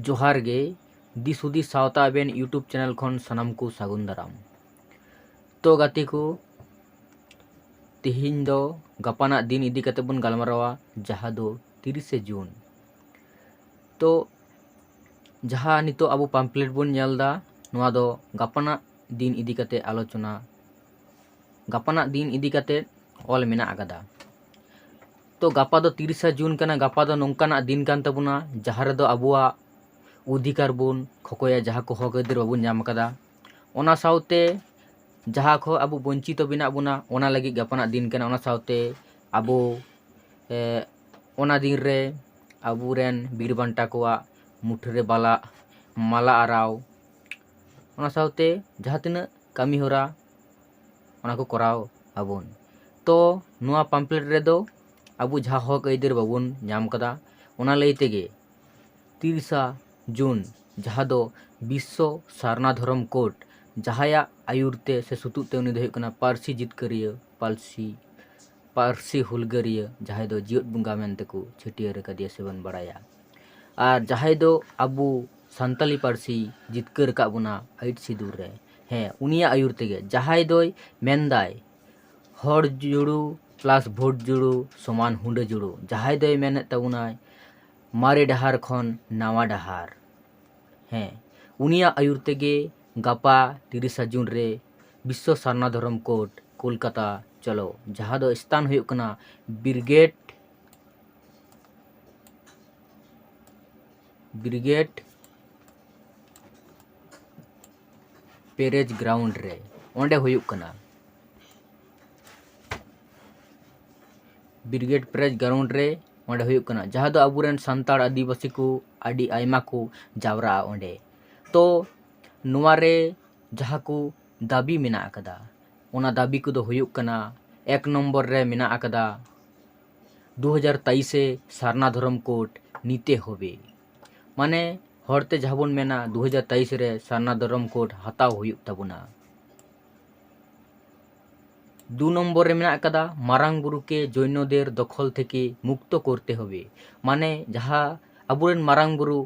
ᱡᱚᱦᱟᱨ ᱜᱮ ᱫᱤᱥ ᱦᱩᱫᱤᱥ ᱥᱟᱶᱛᱟ ᱟᱵᱮᱱ ᱤᱭᱩᱴᱩᱵᱽ ᱪᱮᱱᱮᱞ ᱠᱷᱚᱱ ᱥᱟᱱᱟᱢ ᱠᱚ ᱥᱟᱹᱜᱩᱱ ᱫᱟᱨᱟᱢ ᱛᱚ ᱜᱟᱛᱮ ᱠᱚ ᱛᱮᱦᱮᱧ ᱫᱚ ᱜᱟᱯᱟᱱᱟᱜ ᱫᱤᱱ ᱤᱫᱤ ᱠᱟᱛᱮ ᱵᱚᱱ ᱜᱟᱞᱢᱟᱨᱟᱣᱟ ᱡᱟᱦᱟᱸ ᱫᱚ ᱛᱤᱨᱤᱥᱮ ᱡᱩᱱ ᱛᱚ ᱡᱟᱦᱟᱸ ᱱᱤᱛᱚᱜ ᱟᱵᱚ ᱯᱟᱢᱯᱞᱮᱴ ᱵᱚᱱ ᱧᱮᱞ ᱮᱫᱟ ᱱᱚᱣᱟ ᱫᱚ ᱜᱟᱯᱟᱱᱟᱜ ᱫᱤᱱ ᱤᱫᱤ ᱠᱟᱛᱮ ᱟᱞᱳᱪᱚᱱᱟ ᱜᱟᱯᱟᱱᱟᱜ ᱫᱤᱱ ᱤᱫᱤ ᱠᱟᱛᱮ ᱚᱞ ᱢᱮᱱᱟᱜ ᱟᱠᱟᱫᱟ ᱛᱚ ᱜᱟᱯᱟ ᱫᱚ ᱛᱤᱨᱤᱥᱟ ᱡᱩᱱ ᱠᱟᱱᱟ ᱜᱟᱯᱟ ᱫᱚ ᱱᱚᱝᱠᱟᱱᱟᱜ ᱫᱤᱱ ᱠᱟᱱ ᱛᱟᱵᱚᱱᱟ ᱡᱟᱦᱟᱸ ᱨᱮᱫᱚ ᱟᱵᱚᱣᱟᱜ ᱚᱫᱷᱤᱠᱟᱨ ᱵᱚᱱ ᱠᱷᱚᱠᱚᱭᱟ ᱡᱟᱦᱟᱸ ᱠᱚ ᱦᱚᱠ ᱟᱹᱭᱫᱟᱹᱨ ᱵᱟᱵᱚᱱ ᱧᱟᱢ ᱟᱠᱟᱫᱟ ᱚᱱᱟ ᱥᱟᱶᱛᱮ ᱡᱟᱦᱟᱸ ᱠᱷᱚᱱ ᱟᱵᱚ ᱵᱚᱧᱪᱤᱛᱚ ᱢᱮᱱᱟᱜ ᱵᱚᱱᱟ ᱚᱱᱟ ᱞᱟᱹᱜᱤᱫ ᱜᱟᱯᱟᱱᱟᱜ ᱫᱤᱱ ᱠᱟᱱᱟ ᱚᱱᱟ ᱥᱟᱶᱛᱮ ᱟᱵᱚ ᱚᱱᱟ ᱫᱤᱱ ᱨᱮ ᱟᱵᱚ ᱨᱮᱱ ᱵᱤᱨ ᱵᱟᱱᱴᱟ ᱠᱚᱣᱟᱜ ᱢᱩᱴᱷᱟᱹ ᱨᱮ ᱵᱟᱞᱟ ᱢᱟᱞᱟ ᱟᱨᱟᱣ ᱚᱱᱟ ᱥᱟᱶᱛᱮ ᱡᱟᱦᱟᱸ ᱛᱤᱱᱟᱹᱜ ᱠᱟᱹᱢᱤ ᱦᱚᱨᱟ ᱚᱱᱟ ᱠᱚ ᱠᱚᱨᱟᱣ ᱟᱵᱚᱱ ᱛᱚ ᱱᱚᱣᱟ ᱯᱟᱢᱯᱞᱮᱴ ᱨᱮᱫᱚ ᱟᱵᱚ ᱡᱟᱦᱟᱸ ᱦᱚᱸᱠ ᱟᱹᱭᱫᱟᱹᱨ ᱵᱟᱵᱚᱱ ᱧᱟᱢ ᱠᱟᱫᱟ ᱚᱱᱟ ᱞᱟᱹᱭ ᱛᱮᱜᱮ ᱛᱤᱨᱤᱥᱟ ᱡᱩᱱ ᱡᱟᱦᱟᱸ ᱫᱚ ᱵᱤᱥᱥᱚ ᱥᱟᱨᱱᱟ ᱫᱷᱚᱨᱚᱢ ᱠᱳᱰ ᱡᱟᱦᱟᱸᱭᱟᱜ ᱟᱹᱭᱩᱨ ᱛᱮ ᱥᱮ ᱥᱩᱛᱩᱜ ᱛᱮ ᱩᱱᱤ ᱫᱚᱭ ᱦᱩᱭᱩᱜ ᱠᱟᱱᱟ ᱯᱟᱹᱨᱥᱤ ᱡᱤᱛᱠᱟᱹᱨᱤᱭᱟᱹ ᱯᱟᱹᱨᱥᱤ ᱯᱟᱹᱨᱥᱤ ᱦᱩᱞᱜᱟᱹᱨᱤᱭᱟᱹ ᱡᱟᱦᱟᱸᱭ ᱫᱚ ᱡᱮᱣᱮᱫ ᱵᱚᱸᱜᱟ ᱢᱮᱱᱛᱮ ᱠᱚ ᱪᱷᱟᱹᱴᱭᱟᱹᱨ ᱟᱠᱟᱫᱮᱭᱟ ᱥᱮᱵᱚᱱ ᱵᱟᱲᱟᱭᱟ ᱟᱨ ᱡᱟᱦᱟᱸᱭ ᱫᱚ ᱟᱵᱚ ᱥᱟᱱᱛᱟᱞᱤ ᱯᱟᱹᱨᱥᱤ ᱡᱤᱛᱠᱟᱹᱨ ᱟᱠᱟᱫ ᱵᱚᱱᱟ ᱟᱹᱭᱩᱨ ᱥᱤᱫᱩᱨ ᱨᱮ ᱦᱮᱸ ᱩᱱᱤᱭᱟᱜ ᱟᱹᱭᱩᱨ ᱛᱮᱜᱮ ᱡᱟᱦᱟᱸᱭ ᱫᱚᱭ ᱢᱮᱱᱫᱟᱭ ᱦᱚᱲ ᱡᱩᱲᱩ ᱯᱞᱟᱥ ᱵᱷᱳᱴ ᱡᱩᱲᱩ ᱥᱚᱢᱟᱱ ᱦᱩᱰᱟᱹ ᱡᱩᱲᱩ ᱡᱟᱦᱟᱸᱭ ᱫᱚᱭ ᱢᱮᱱᱮᱫ ᱛᱟᱵᱚᱱᱟᱭ ᱢᱟᱨᱮ ᱰᱟᱦᱟᱨ ᱠᱷᱚᱱ ᱱᱟᱣᱟ ᱰᱟᱦᱟᱨ ᱦᱮᱸ ᱩᱱᱤᱭᱟᱜ ᱟᱹᱭᱩᱨ ᱛᱮᱜᱮ ᱜᱟᱯᱟ ᱛᱤᱨᱤᱥᱟ ᱡᱩᱱ ᱨᱮ ᱵᱤᱥᱥᱚ ᱥᱟᱨᱱᱟ ᱫᱷᱚᱨᱚᱢ ᱠᱳᱰ ᱠᱳᱞᱠᱟᱛᱟ ᱪᱚᱞᱚ ᱡᱟᱦᱟᱸ ᱫᱚ ᱥᱛᱷᱟᱱ ᱦᱩᱭᱩᱜ ᱠᱟᱱᱟ ᱵᱨᱤᱜᱮᱰ ᱵᱨᱤᱜᱮᱰ ᱯᱮᱨᱮᱡᱽ ᱜᱨᱟᱣᱩᱱᱰ ᱨᱮ ᱚᱸᱰᱮ ᱦᱩᱭᱩᱜ ᱠᱟᱱᱟ ᱵᱨᱤᱜᱮᱰ ᱯᱮᱨᱮᱡᱽ ᱜᱨᱟᱣᱩᱱᱰ ᱨᱮ ᱚᱸᱰᱮ ᱦᱩᱭᱩᱜ ᱠᱟᱱᱟ ᱡᱟᱦᱟᱸ ᱫᱚ ᱟᱵᱚᱨᱮᱱ ᱥᱟᱱᱛᱟᱲ ᱟᱹᱫᱤᱵᱟᱹᱥᱤ ᱠᱚ ᱟᱹᱰᱤ ᱟᱭᱢᱟ ᱠᱚ ᱡᱟᱣᱨᱟᱜᱼᱟ ᱚᱸᱰᱮ ᱛᱚ ᱱᱚᱣᱟ ᱨᱮ ᱡᱟᱦᱟᱸ ᱠᱚ ᱫᱟᱹᱵᱤ ᱢᱮᱱᱟᱜ ᱟᱠᱟᱫᱟ ᱚᱱᱟ ᱫᱟᱹᱵᱤ ᱠᱚᱫᱚ ᱦᱩᱭᱩᱜ ᱠᱟᱱᱟ ᱮᱠ ᱱᱚᱢᱵᱚᱨ ᱨᱮ ᱢᱮᱱᱟᱜ ᱟᱠᱟᱫᱟ ᱫᱩ ᱦᱟᱡᱟᱨ ᱛᱟᱭᱤᱥᱮ ᱥᱟᱨᱱᱟ ᱫᱷᱚᱨᱚᱢ ᱠᱳᱰ ᱱᱤᱛᱮ ᱦᱚᱵᱮ ᱢᱟᱱᱮ ᱦᱚᱲᱛᱮ ᱡᱟᱦᱟᱸ ᱵᱚᱱ ᱢᱮᱱᱟ ᱫᱩ ᱦᱟᱡᱟᱨ ᱛᱟᱭᱤᱥ ᱨᱮ ᱥᱟᱨᱱᱟ ᱫᱷᱚᱨᱚᱢ ᱠᱳᱰ ᱦᱟᱛᱟᱣ ᱦᱩᱭᱩᱜ ᱛᱟᱵᱚᱱᱟ ᱫᱩ ᱱᱚᱢᱵᱚᱨ ᱨᱮ ᱢᱮᱱᱟᱜ ᱟᱠᱟᱫᱟ ᱢᱟᱨᱟᱝ ᱵᱩᱨᱩᱠᱮ ᱡᱳᱭᱱᱚᱫᱮᱨ ᱫᱚᱠᱷᱚᱞ ᱛᱷᱮᱠᱮ ᱢᱩᱠᱛᱚ ᱠᱚᱨᱛᱮ ᱦᱚᱵᱮ ᱢᱟᱱᱮ ᱡᱟᱦᱟᱸ ᱟᱵᱚᱨᱮᱱ ᱢᱟᱨᱟᱝ ᱵᱩᱨᱩ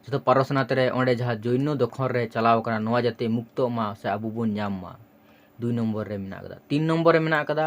ᱡᱚᱛᱚ ᱯᱟᱨᱚᱥᱱᱟᱛᱷ ᱨᱮ ᱚᱸᱰᱮ ᱡᱟᱦᱟᱸ ᱡᱳᱭᱱᱚ ᱫᱚᱠᱷᱚᱞ ᱨᱮ ᱪᱟᱞᱟᱣ ᱟᱠᱟᱱᱟ ᱱᱚᱣᱟ ᱡᱟᱛᱮ ᱢᱩᱠᱛᱚᱜ ᱢᱟ ᱥᱮ ᱟᱵᱚ ᱵᱚᱱ ᱧᱟᱢ ᱢᱟ ᱫᱩᱭ ᱱᱚᱢᱵᱚᱨ ᱨᱮ ᱢᱮᱱᱟᱜ ᱟᱠᱟᱫᱟ ᱛᱤᱱ ᱱᱚᱢᱵᱚᱨ ᱨᱮ ᱢᱮᱱᱟᱜ ᱟᱠᱟᱫᱟ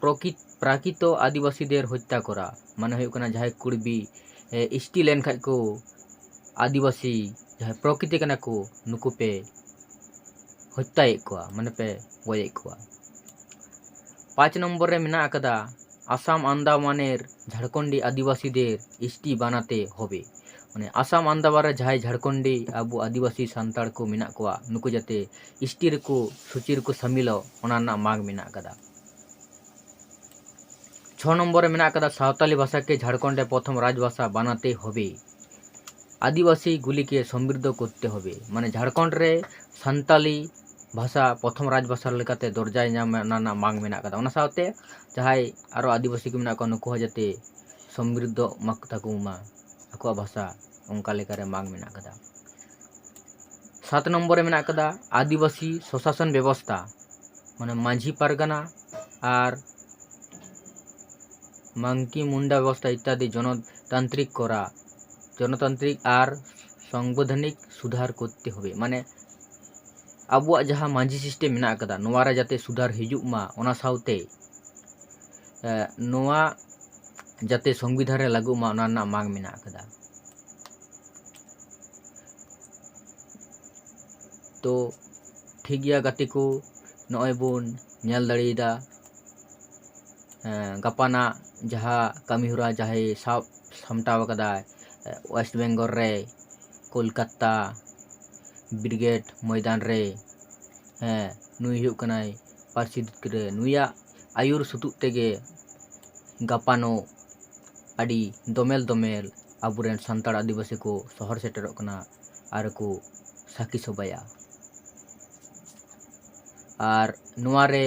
ᱯᱨᱚᱠᱤᱛ ᱯᱨᱟᱠᱤᱛᱚ ᱟᱹᱫᱤᱵᱟᱹᱥᱤ ᱫᱮᱨ ᱦᱚᱛᱛᱟ ᱠᱚᱨᱟ ᱢᱟᱱᱮ ᱦᱩᱭᱩᱜ ᱠᱟᱱᱟ ᱡᱟᱦᱟᱸᱭ ᱠᱩᱲᱵᱤ ᱮᱥᱴᱤ ᱞᱮᱱ ᱠᱷᱟᱡ ᱠᱚ ᱟᱹᱫᱤᱵᱟᱹᱥᱤ ᱡᱟᱦᱟᱸᱭ ᱯᱨᱚᱠᱤᱛᱤ ᱠᱟᱱᱟ ᱠᱚ ᱱᱩᱠᱩ ᱯᱮ ᱦᱚᱛᱛᱟᱭᱮᱫ ᱠᱚᱣᱟ ᱢᱟᱱᱮ ᱯᱮ ᱜᱚᱡᱮᱫ ᱠᱚᱣᱟ ᱯᱟᱸᱪ ᱱᱚᱢᱵᱚᱨ ᱨᱮ ᱢᱮᱱᱟᱜ ᱟᱠᱟᱫᱟ ᱟᱥᱟᱢ ᱟᱱᱫᱟᱢᱟᱱᱮᱨ ᱡᱷᱟᱲᱠᱷᱚᱸᱰᱤ ᱟᱹᱫᱤᱵᱟᱹᱥᱤ ᱫᱮᱨ ᱮᱥᱴᱤ ᱵᱟᱱᱟᱛᱮ ᱦᱚᱵᱮ ᱢᱟᱱᱮ ᱟᱥᱟᱢ ᱟᱱᱫᱟᱢᱟᱱ ᱨᱮ ᱡᱟᱦᱟᱸᱭ ᱡᱷᱟᱲᱠᱷᱚᱸᱰᱤ ᱟᱵᱚ ᱟᱹᱫᱤᱵᱟᱹᱥᱤ ᱥᱟᱱᱛᱟᱲ ᱠᱚ ᱢᱮᱱᱟᱜ ᱠᱚᱣᱟ ᱱᱩᱠᱩ ᱡᱟᱛᱮ ᱮᱥ ᱴᱤ ᱨᱮᱠᱚ ᱥᱩᱪᱤ ᱨᱮᱠᱚ ᱥᱟᱢᱤᱞᱚᱜ ᱚᱱᱟ ᱨᱮᱱᱟᱜ ᱢᱟᱜᱽ ᱢᱮᱱᱟᱜ ᱟᱠᱟᱫᱟ ᱪᱷᱚ ᱱᱚᱢᱵᱚᱨ ᱨᱮ ᱢᱮᱱᱟᱜ ᱟᱠᱟᱫᱟ ᱥᱟᱶᱛᱟᱞᱤ ᱵᱷᱟᱥᱟ ᱠᱮ ᱡᱷᱟᱲᱠᱷᱚᱸᱰ ᱨᱮ ᱯᱨᱚᱛᱷᱚᱢ ᱨᱟᱡᱽ ᱵᱷᱟᱥᱟ ᱵᱟᱱᱟᱛᱮ ᱦᱚᱵᱮ ᱟᱹᱫᱤᱵᱟᱹᱥᱤ ᱜᱩᱞᱤ ᱠᱮ ᱥᱚᱢᱵᱨᱤᱫᱷᱚ ᱠᱚᱨᱛᱮ ᱦᱚᱵᱮ ᱢᱟᱱᱮ ᱡᱷᱟᱲᱠᱷᱚᱸᱰ ᱨᱮ ᱥᱟᱱᱛᱟᱞᱤ ᱵᱷᱟᱥᱟ ᱯᱨᱚᱛᱷᱚᱢ ᱨᱟᱡᱽ ᱵᱷᱟᱥᱟ ᱞᱮᱠᱟᱛᱮ ᱫᱚᱨᱡᱟᱭ ᱧᱟᱢ ᱚᱱᱟ ᱨᱮᱱᱟᱜ ᱢᱟᱜᱽ ᱢᱮᱱᱟᱜ ᱟᱠᱟᱫᱟ ᱚᱱᱟ ᱥᱟᱶᱛᱮ ᱡᱟᱦᱟᱸᱭ ᱟᱨᱚ ᱟᱹᱫᱤᱵᱟᱹᱥᱤ ᱠᱚ ᱢᱮᱱᱟᱜ ᱠᱚᱣᱟ ᱱᱩᱠᱩ ᱦᱚᱸ ᱡᱟᱛᱮ ᱥᱚᱢᱵᱨᱤᱫᱷᱚᱜ ᱢᱟᱠᱚ ᱛᱟᱠᱚ ᱢᱟ ᱟᱠᱚᱣᱟᱜ ᱵᱷᱟᱥᱟ ᱚᱱᱠᱟ ᱞᱮᱠᱟᱨᱮ ᱢᱟᱜᱽ ᱢᱮᱱᱟᱜ ᱠᱟᱫᱟ ᱥᱟᱛ ᱱᱚᱢᱵᱚᱨ ᱨᱮ ᱢᱮᱱᱟᱜ ᱠᱟᱫᱟ ᱟᱹᱫᱤᱵᱟᱹᱥᱤ ᱥᱚᱥᱟᱥᱚᱱ ᱵᱮᱵᱚᱥᱛᱷᱟ ᱢᱟᱱᱮ ᱢᱟᱹᱡᱷᱤ ᱯᱟᱨᱜᱟᱱᱟ ᱟᱨ ᱢᱟᱝᱠᱤ ᱢᱩᱱᱰᱟ ᱵᱮᱵᱚᱥᱛᱷᱟ ᱤᱛᱛᱟᱫᱤ ᱡᱚᱱᱚᱛᱟᱱᱛᱨᱤᱠ ᱠᱚᱨᱟ ᱡᱚᱱᱚᱛᱟᱱᱛᱨᱤᱠ ᱟᱨ ᱥᱚᱝᱵᱤᱫᱷᱟᱱᱤᱠ ᱥᱩᱫᱷᱟᱨ ᱠᱚᱨᱛᱮ ᱦᱚᱵᱮ ᱢᱟᱱᱮ ᱟᱵᱚᱣᱟᱜ ᱡᱟᱦᱟᱸ ᱢᱟᱹᱡᱷᱤ ᱥᱤᱥᱴᱮᱢ ᱢᱮᱱᱟᱜ ᱠᱟᱫᱟ ᱱᱚᱣᱟᱨᱮ ᱡᱟᱛᱮ ᱥᱩᱫᱷᱟᱨ ᱦᱤᱡᱩᱜ ᱢᱟ ᱚᱱᱟ ᱥᱟᱶᱛᱮ ᱱᱚᱣᱟ ᱡᱟᱛᱮ ᱥᱚᱝᱵᱤᱫᱷᱟᱱ ᱨᱮ ᱞᱟᱹᱜᱩᱜ ᱢᱟ ᱚᱱᱟ ᱨᱮᱱᱟᱜ ᱢᱟᱜᱽ ᱢᱮᱱᱟᱜ ᱟᱠᱟᱫᱟ᱾ ᱛᱚ ᱴᱷᱤᱠ ᱜᱮᱭᱟ ᱜᱟᱛᱮ ᱠᱚ ᱱᱚᱜᱼᱚᱭ ᱵᱚᱱ ᱧᱮᱞ ᱫᱟᱲᱮᱭᱟᱫᱟ ᱜᱟᱯᱟᱱᱟᱜ ᱡᱟᱦᱟᱸ ᱠᱟᱹᱢᱤ ᱦᱚᱨᱟ ᱡᱟᱦᱟᱸᱭ ᱥᱟᱵ ᱥᱟᱢᱴᱟᱣ ᱟᱠᱟᱫᱟᱭ ᱳᱭᱮᱥᱴ ᱵᱮᱝᱜᱚᱞ ᱨᱮ ᱠᱳᱞᱠᱟᱛᱟ ᱵᱨᱤᱜᱮᱰ ᱢᱚᱭᱫᱟᱱ ᱨᱮ ᱦᱮᱸ ᱱᱩᱭ ᱦᱩᱭᱩᱜ ᱠᱟᱱᱟᱭ ᱯᱟᱹᱨᱥᱤ ᱡᱤᱛᱠᱟᱹᱨ ᱱᱩᱭᱟᱜ ᱟᱹᱭᱩᱨ ᱥᱩᱛᱩᱜ ᱛᱮᱜᱮ ᱜᱟᱯᱟᱱᱚᱜ ᱟᱹᱰᱤ ᱫᱚᱢᱮᱞ ᱫᱚᱢᱮᱞ ᱟᱵᱚ ᱨᱮᱱ ᱥᱟᱱᱛᱟᱲ ᱟᱹᱫᱤᱵᱟᱹᱥᱤ ᱠᱚ ᱥᱚᱦᱚᱨ ᱥᱮᱴᱮᱨᱚᱜ ᱠᱟᱱᱟ ᱟᱨ ᱠᱚ ᱥᱟᱹᱠᱷᱤ ᱥᱚᱵᱷᱟᱭᱟ ᱟᱨ ᱱᱚᱣᱟ ᱨᱮ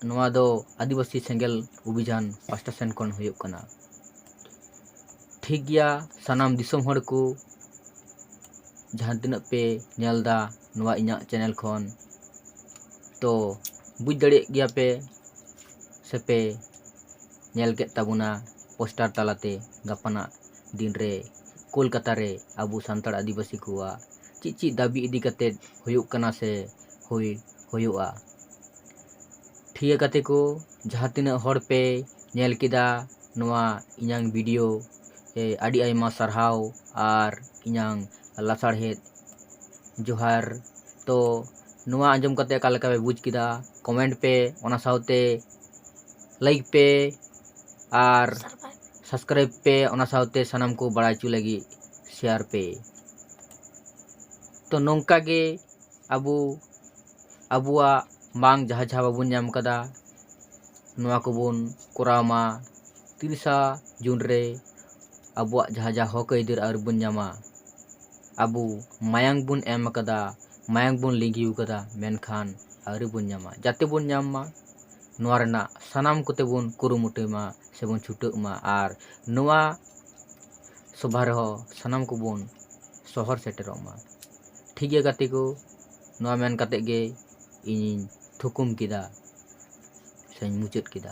ᱱᱚᱣᱟ ᱫᱚ ᱟᱹᱫᱤᱵᱟᱹᱥᱤ ᱥᱮᱸᱜᱮᱞ ᱚᱵᱷᱤᱡᱟᱱ ᱯᱟᱥᱴᱟ ᱥᱮᱱ ᱠᱷᱚᱱ ᱦᱩᱭᱩᱜ ᱠᱟᱱᱟ ᱴᱷᱤᱠ ᱜᱮᱭᱟ ᱥᱟᱱᱟᱢ ᱫᱤᱥᱚᱢ ᱦᱚᱲ ᱠᱚ ᱡᱟᱦᱟᱸ ᱛᱤᱱᱟᱹᱜ ᱯᱮ ᱧᱮᱞ ᱮᱫᱟ ᱱᱚᱣᱟ ᱤᱧᱟᱹᱜ ᱪᱮᱱᱮᱞ ᱠᱷᱚᱱ ᱛᱚ ᱵᱩᱡᱽ ᱫᱟᱲᱮᱭᱟᱜ ᱜᱮᱭᱟ ᱯᱮ ᱥᱮᱯᱮ ᱧᱮᱞ ᱠᱮᱫ ᱛᱟᱵᱚᱱᱟ ᱯᱳᱥᱴᱟᱨ ᱛᱟᱞᱟᱛᱮ ᱜᱟᱯᱟᱱᱟᱜ ᱫᱤᱱ ᱨᱮ ᱠᱳᱞᱠᱟᱛᱟ ᱨᱮ ᱟᱵᱚ ᱥᱟᱱᱛᱟᱲ ᱟᱹᱫᱤᱵᱟᱹᱥᱤ ᱠᱚᱣᱟᱜ ᱪᱮᱫ ᱪᱮᱫ ᱫᱟᱹᱵᱤ ᱤᱫᱤ ᱠᱟᱛᱮᱫ ᱦᱩᱭᱩᱜ ᱠᱟᱱᱟ ᱥᱮ ᱦᱩᱭ ᱦᱩᱭᱩᱜᱼᱟ ᱴᱷᱤᱭᱟᱹ ᱜᱟᱛᱮ ᱠᱚ ᱡᱟᱦᱟᱸ ᱛᱤᱱᱟᱹᱜ ᱦᱚᱲ ᱯᱮ ᱧᱮᱞ ᱠᱮᱫᱟ ᱱᱚᱣᱟ ᱤᱧᱟᱹᱝ ᱵᱷᱤᱰᱤᱭᱳ ᱟᱹᱰᱤ ᱟᱭᱢᱟ ᱥᱟᱨᱦᱟᱣ ᱟᱨ ᱤᱧᱟᱹᱝ ᱞᱟᱥᱟᱲᱦᱮᱫ ᱡᱚᱦᱟᱨ ᱛᱚ ᱱᱚᱣᱟ ᱟᱸᱡᱚᱢ ᱠᱟᱛᱮᱫ ᱚᱠᱟ ᱞᱮᱠᱟ ᱯᱮ ᱵᱩᱡᱽ ᱠᱮᱫᱟ ᱠᱚᱢᱮᱱᱴ ᱯᱮ ᱚᱱᱟ ᱥᱟᱶᱛᱮ ᱞᱟᱹᱭᱤᱠ ᱯᱮ ᱟᱨ ᱥᱟᱵᱥᱠᱨᱟᱭᱤᱵᱽ ᱯᱮ ᱚᱱᱟ ᱥᱟᱶᱛᱮ ᱥᱟᱱᱟᱢ ᱠᱚ ᱵᱟᱲᱟᱭ ᱦᱚᱪᱚ ᱞᱟᱹᱜᱤᱫ ᱥᱮᱭᱟᱨ ᱯᱮ ᱛᱚ ᱱᱚᱝᱠᱟ ᱜᱮ ᱟᱵᱚ ᱟᱵᱚᱣᱟᱜ ᱵᱟᱝ ᱡᱟᱦᱟᱸ ᱡᱟᱦᱟᱸ ᱵᱟᱵᱚᱱ ᱧᱟᱢ ᱟᱠᱟᱫᱟ ᱱᱚᱣᱟ ᱠᱚᱵᱚᱱ ᱠᱚᱨᱟᱣ ᱢᱟ ᱛᱤᱨᱤᱥᱟ ᱡᱩᱱ ᱨᱮ ᱟᱵᱚᱣᱟᱜ ᱡᱟᱦᱟᱸ ᱡᱟᱦᱟᱸ ᱦᱚᱠ ᱟᱹᱭᱫᱟᱹᱨ ᱟᱹᱣᱨᱤ ᱵᱚᱱ ᱧᱟᱢᱟ ᱟᱵᱚ ᱢᱟᱭᱟᱝ ᱵᱚᱱ ᱮᱢ ᱟᱠᱟᱫᱟ ᱢᱟᱭᱟᱝ ᱵᱚᱱ ᱞᱤᱸᱜᱤ ᱟᱠᱟᱫᱟ ᱢᱮᱱᱠᱷᱟᱱ ᱟᱹᱣᱨᱤ ᱵᱚᱱ ᱧᱟᱢᱟ ᱡᱟᱛᱮ ᱵᱚᱱ ᱧᱟᱢ ᱢᱟ ᱱᱚᱣᱟ ᱨᱮᱱᱟᱜ ᱥᱟᱱᱟᱢ ᱠᱚᱛᱮ ᱵᱚᱱ ᱠᱩᱨᱩᱢᱩᱴᱩᱭ ᱢᱟ ᱥᱮ ᱵᱚᱱ ᱪᱷᱩᱴᱟᱹᱜ ᱢᱟ ᱟᱨ ᱱᱚᱣᱟ ᱥᱚᱵᱷᱟ ᱨᱮᱦᱚᱸ ᱥᱟᱱᱟᱢ ᱠᱚᱵᱚᱱ ᱥᱚᱦᱚᱨ ᱥᱮᱴᱮᱨᱚᱜ ᱢᱟ ᱴᱷᱤᱠ ᱜᱮᱭᱟ ᱜᱟᱛᱮ ᱠᱚ ᱱᱚᱣᱟ ᱢᱮᱱ ᱠᱟᱛᱮ ᱜᱮ ᱤᱧᱤᱧ ᱛᱷᱩᱠᱩᱢ ᱠᱮᱫᱟ ᱥᱮᱧ ᱢᱩᱪᱟᱹᱫ ᱠᱮᱫᱟ